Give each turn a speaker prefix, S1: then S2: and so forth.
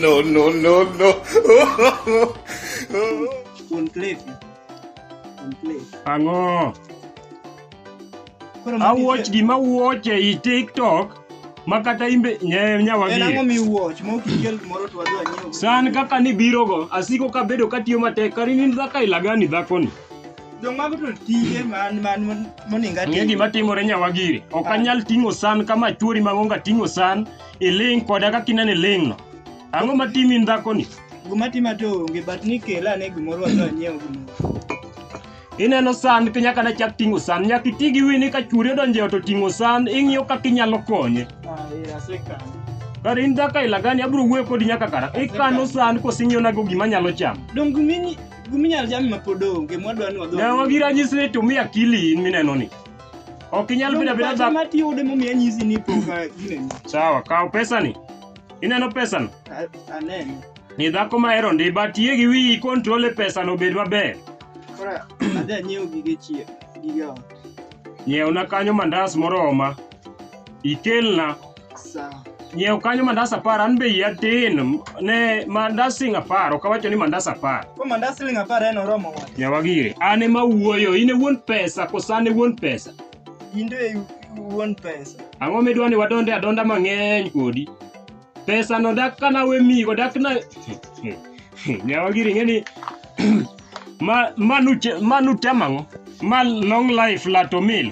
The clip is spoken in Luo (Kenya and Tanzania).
S1: no, no, no, no. Kuon Cliff.
S2: Kuon Cliff. Ang'o? Koro magi- Awuoch gima wuoch ei TikTok ma kata imbe nye- En ang'o nyawagie. miwuoch?
S3: Ma ok ikel gimoro to wadwa nyiewo. San kaka nibirogo,
S2: asiko kabedo katiyo matek, kari ni dhaka ilagani dhakoni. Jomwago to
S3: tije man man moninga Ng'e tije. gima timore
S2: nyawagiri. Ok Ah. anyal ting'o san kama chuori mang'onga ting'o san iling' koda kaka ineno iling'no. Ang'o ma timi in dhakoni? Guma tima to
S3: onge but ni kela ne gimoro wadwa nyiewo gimoro. Ineno
S2: san ka nyaka nachak ting'o san. Nyaka iti gi wini ka chuori odonjo e ot oting'o san ing'iyo kaka inyalo konye. Ah, eh,
S3: asekano. Kar in
S2: dhaka ilagani abiro wuoyo kodi nyaka kara. Ikano san kosing'ionago gima nyalo chamo. Dongu mini
S3: Guminyalo jami ma pod onge mwadwa ni wadho. Yawa gi ranyisi ni tumia
S2: akili in mineno ni. Ok inyal bedo abeda dhako. Ma tiyo ude momiya nyisi
S3: ni poka gineno. Sawa, kaw pesa
S2: ni. Ineno pesa ni? Aneno.
S3: Ni dhako ma
S2: hero ndi but ye gi wi control e pesa no bed maber. Kora
S3: adhi anyiew gige chiyo, gige ot. Nyiewna
S2: kanyo mandas moroma. Ikelna.
S3: nyiew kanyo mandas
S2: apar an be iya tin ne mandas sing apar ok awacho ni mandas apar ko mandas sing apar
S3: en oromo wa nyawa gire an ema
S2: wuoyo in e wuon pesa kosa an e wuon pesa in to e
S3: wuon pesa ang'o midwa ni wadonde
S2: adonda mang'eny kodi pesa no dak kana we migo dak na nyawa gire ing'e ni ma manu manu temang'o ma long life lato mil